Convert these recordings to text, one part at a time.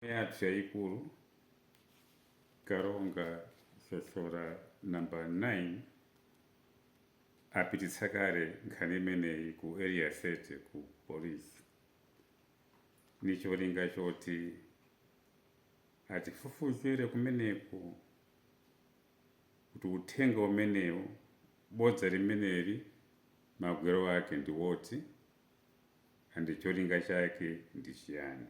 yathu yayikulu Karonga Sosola number 9 apititsa kale nkhani imeneyi ku area 30 ku polisi ndi cholinga choti atifufuzire kumeneko kuti uthenga umenewu bodza limeneli magwero ake ndi oti and cholinga chake ndi chiyani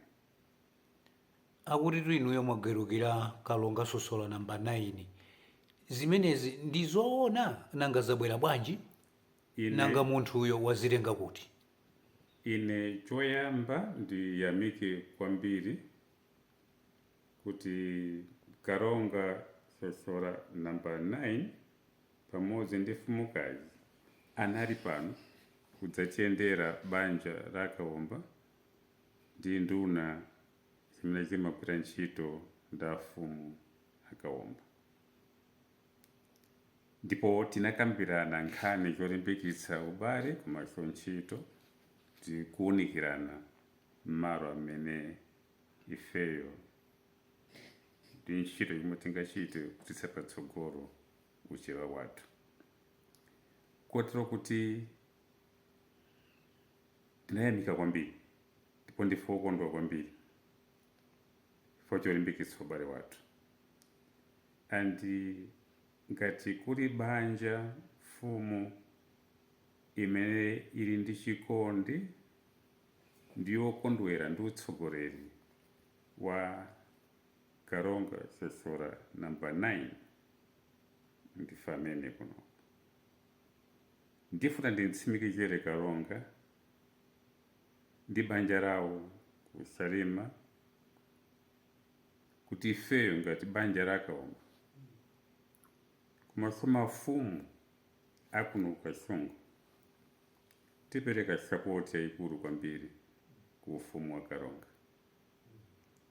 Akuti inuyo mwagalukira kalonga sosola number 9 zimenezi ndizoona? Nanga zabwera bwanji? Nanga munthuyo wazitenga kuti? Ine choyamba ndiyamike kwambiri kuti karonga sosola number 9 pamodzi ndi mfumukazi anali pano kudzachендera banja la a Kaomba ndi nduna zimene zimagwira ntchito ndi a Mfumu a Kaomba ndipo tinakambirana nkhani zolimbikitsa ubale komanso ntchito ndi kuunikirana m'malo amene ifeyo ndi ntchito yomwe tingachite kupititsa patsogolo uchewa wathu kotero kuti Tinayamika kwambiri ndipo ndife okondwa kwambiri chifukwa cholimbikitsa ubale wathu and ngati kuli banja, mfumu imene ili ndi chikondi ndi yokondwera ndi utsogoleri wa Karonga Sosola number 9 ndife amene kuno. Ndifuna ndimtsimikizire Karonga ndi banja lawo ku Salima kuti ifeyo ngati banja la Kaomba komanso mafumu a kuno ku Kasungu tipereka sapoti yayikulu kwambiri ku ufumu wa Karonga.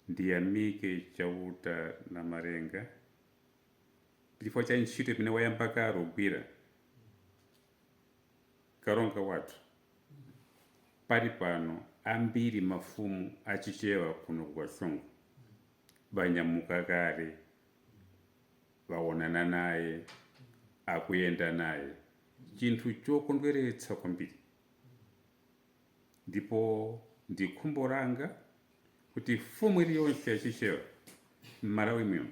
Ndiyamike Chauta Namalenga. chifukwa cha ntchito imene wayamba kale kugwira karonga wathu palipano ambiri mafumu achichewa kuno ku kasungu banyamuka kale baonana naye akuyenda naye chinthu chokondweretsa kwambiri ndipo ndi khumbo langa kuti mfumu iliyonse yachichewa m'malawi muno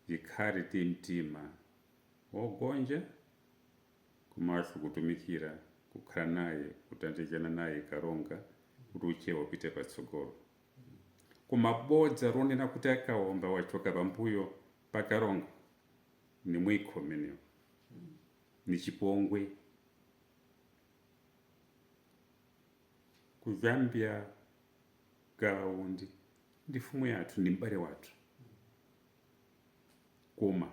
Tikhale ndi mtima wogonja komanso kutumikira kukhala naye kuthandizana naye Kalonga kuti uchewa upite patsogolo. Koma bodza lonena kuti a Kaomba wachoka pambuyo pa Kalonga ni mwikho umenewo, ni chipongwe. Ku Zambia Gawa Undi ndi mfumu yathu ndi m'bale wathu koma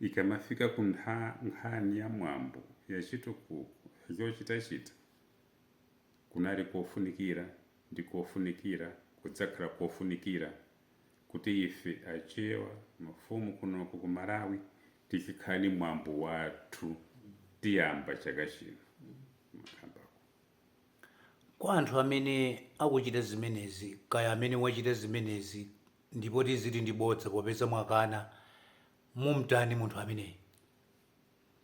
ikamafika ku ntha- nkhani ya mwambo ya chitukuko zochitachita kunali kofunikira ndi kofunikira kudzakhala kofunikira kuti ife achewa mafumu kunoko ku Malawi tizikhala ni mwambo wathu tiyamba chaka chino Kwa anthu amene akuchita zimenezi, kaya amene wachita zimenezi ndipo tiziti ndi bodza popeza mwakana, mumtani munthu ameneyi?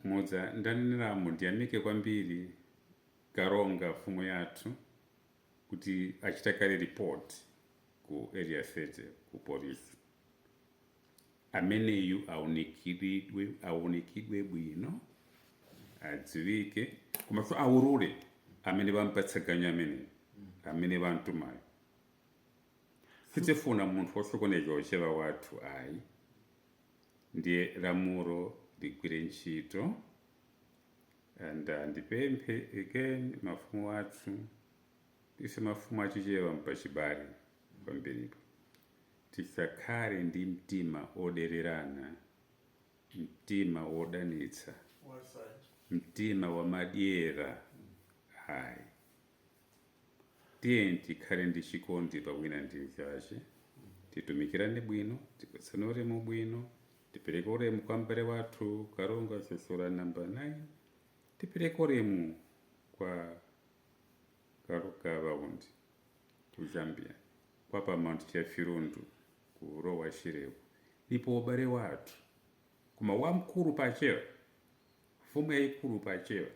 Muja ndaneneramu ndiyamike kwambiri Kalonga mfumu yathu kuti achita kale report ku area 30 ku police. Ameneyu aunikidwe bwino, adziwike, komanso aulule amene wampatsa ganyu ameneyo, amene wamtumayo. Sitifuna munthu wosokoneza uchewa wathu ayi, ndiye lamulo ligwire ntchito and uh, ndipemphe again mafumu athu ife mafumu achichewa n'pachibale kwambiripo Tisakhale ndi mtima odererana, mtima wodanitsa, mtima wamadyera ayi. Tiyeni tikhale ndi chikondi pa wina ndi mzache, titumikirane bwino, tipatsane ulemu bwino, tipereke ulemu kwa mbale wathu Kalonga Sosola number 9, tipereke ulemu kwa. Kalonga Gawa Undi ku Zambia kwa pa Mount Chafirundu kulowa Shireko ulipo ubale wathu koma wamkulu pa chewa mfumu yayikulu pa chewa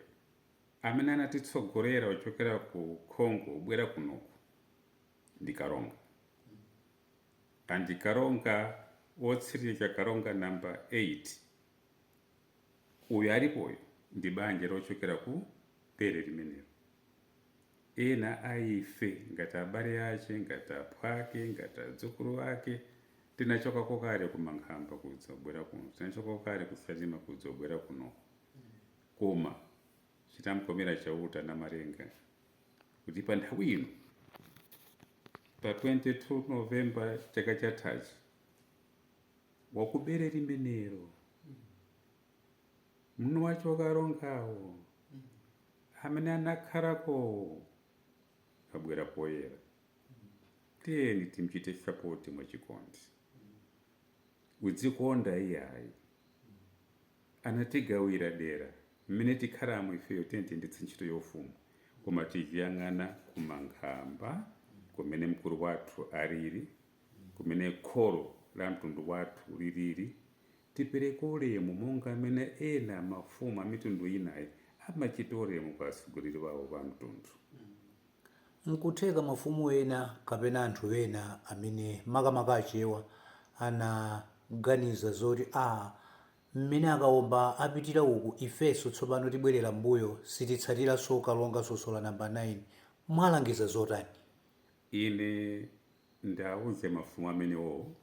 amene anatitsogolera kuchokera ku Congo kubwera kunoku ndi Kalonga and Kalonga wotsiriza Kalonga number 8 Uyu alipoyu ndi banja lochokera ku bere limenelo. Ena a ife, ngati abale ache, ngati aphwake, ngati adzukulu ake, tinachokako kale ku Mankhamba kudzabwera kuno, tinachokako kale ku Salima kudzabwera kuno. Koma chitamkomera Chauta Namalenga kuti pa nthawi ino, pa 22 November chaka chathachi, wakubere limenelo mnu wa Kalongawo amene anakhalakowo abwera poyera tiyeni timchite sapoti mwachikondi udzikonda iyayi anatigawira dera mmene tikhalamo ifeyo tiyeni tiyendetse ntchito ya ufumu koma tiziyang'ana kumankhamba kumene mkulu wathu alili kumene kholo la mtundu wathu lilili, tipereke ulemu monga mmene ena mafumu a mitundu inayi amachita ulemu kwa atsogoleri awo pa mtundu. N'kutheka mafumu ena kapena anthu ena amene, makamaka Achewa, anaganiza zoti, Aa, mmene akaomba apitira uku ifenso tsopano tibwerera m'mbuyo, sititsatiranso Kalonga Sosola Namba 9. Mwalangiza zotani? Ine ndauze mafumu amenewo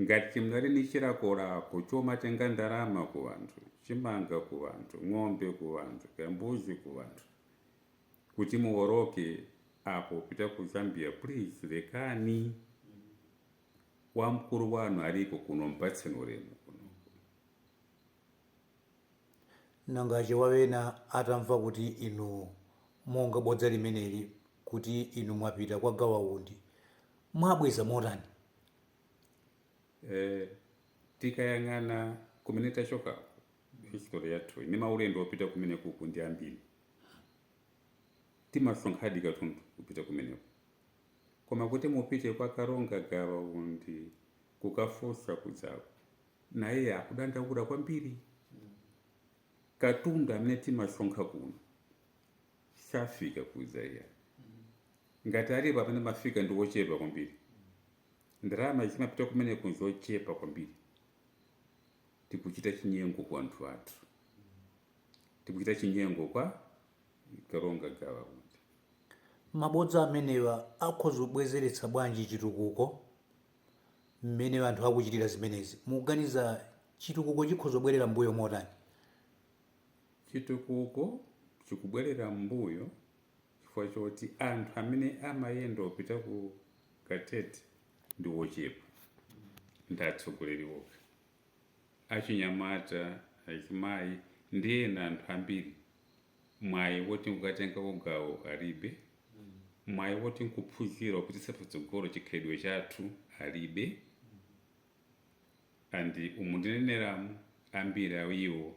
ngati chimene muli ndi chilakolako chomatenga ndalama ku anthu, chimanga ku anthu, ng'ombe ku anthu, kaya mbuzi ku anthu kuti muwoloke apo kupita ku Zambia please lekani. Wamkulu wanu aliko kuno mpatseni ulemu kuno. Nanga Achewa ena atamva kuti inu monga bodza limeneli kuti inu mwapita kwa gawa undi mwabweza motani? Tikayang'ana kumene tachokako history yathu ndi maulendo opita kumenekuku ndi ambiri timasonkhadi katundu kupita kumeneko koma kuti mupite kwa karonga gawa undi kukafunsa kujaku naye akudandaula kwambiri. Katundu amene timasonkha kuno safika kuja iya, ngati alipo amene amafika ndi wochepa kwambiri. Ndalama zimapita kumeneko nzochepa kwambiri. Tikuchita chinyengo kwa anthu athu, tikuchita chinyengo kwa Karonga Gawa Undi. Mabodza amenewa akhoza kubwezeretsa bwanji chitukuko? mmene anthu akuchitira zimenezi, mukuganiza chitukuko chikhoza kubwerera m'mbuyo motani? Chitukuko chikubwerera m'mbuyo chifukwa choti anthu amene amayenda opita ku Katete ndi ochepa, ndi atsogoleri okha. Achinyamata, azimayi ndi ena anthu ambiri mwayi woti nkukatengako gawo alibe, mwayi woti nkuphunzira kupititsa patsogolo chikhalidwe chathu alibe and umu ndineneramu ambiri a iwo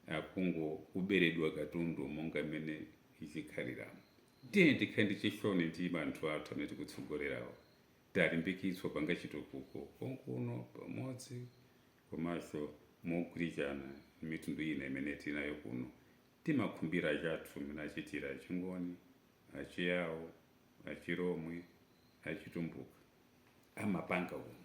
akungoberedwa katundu monga mmene chikhaliramu. Tiyeni tikhale ndi chisoni ndi anthu athu amene tikutsogolerawo, tilimbikitse kupanga chitukuko konkuno pamodzi komanso mogwirizana ndi mitundu ina imene tinayo kuno, timakhumbira anzathu mmene achitira Achingoni, Achiyao, Achilomwe, Achitumbuka amapanga kuno.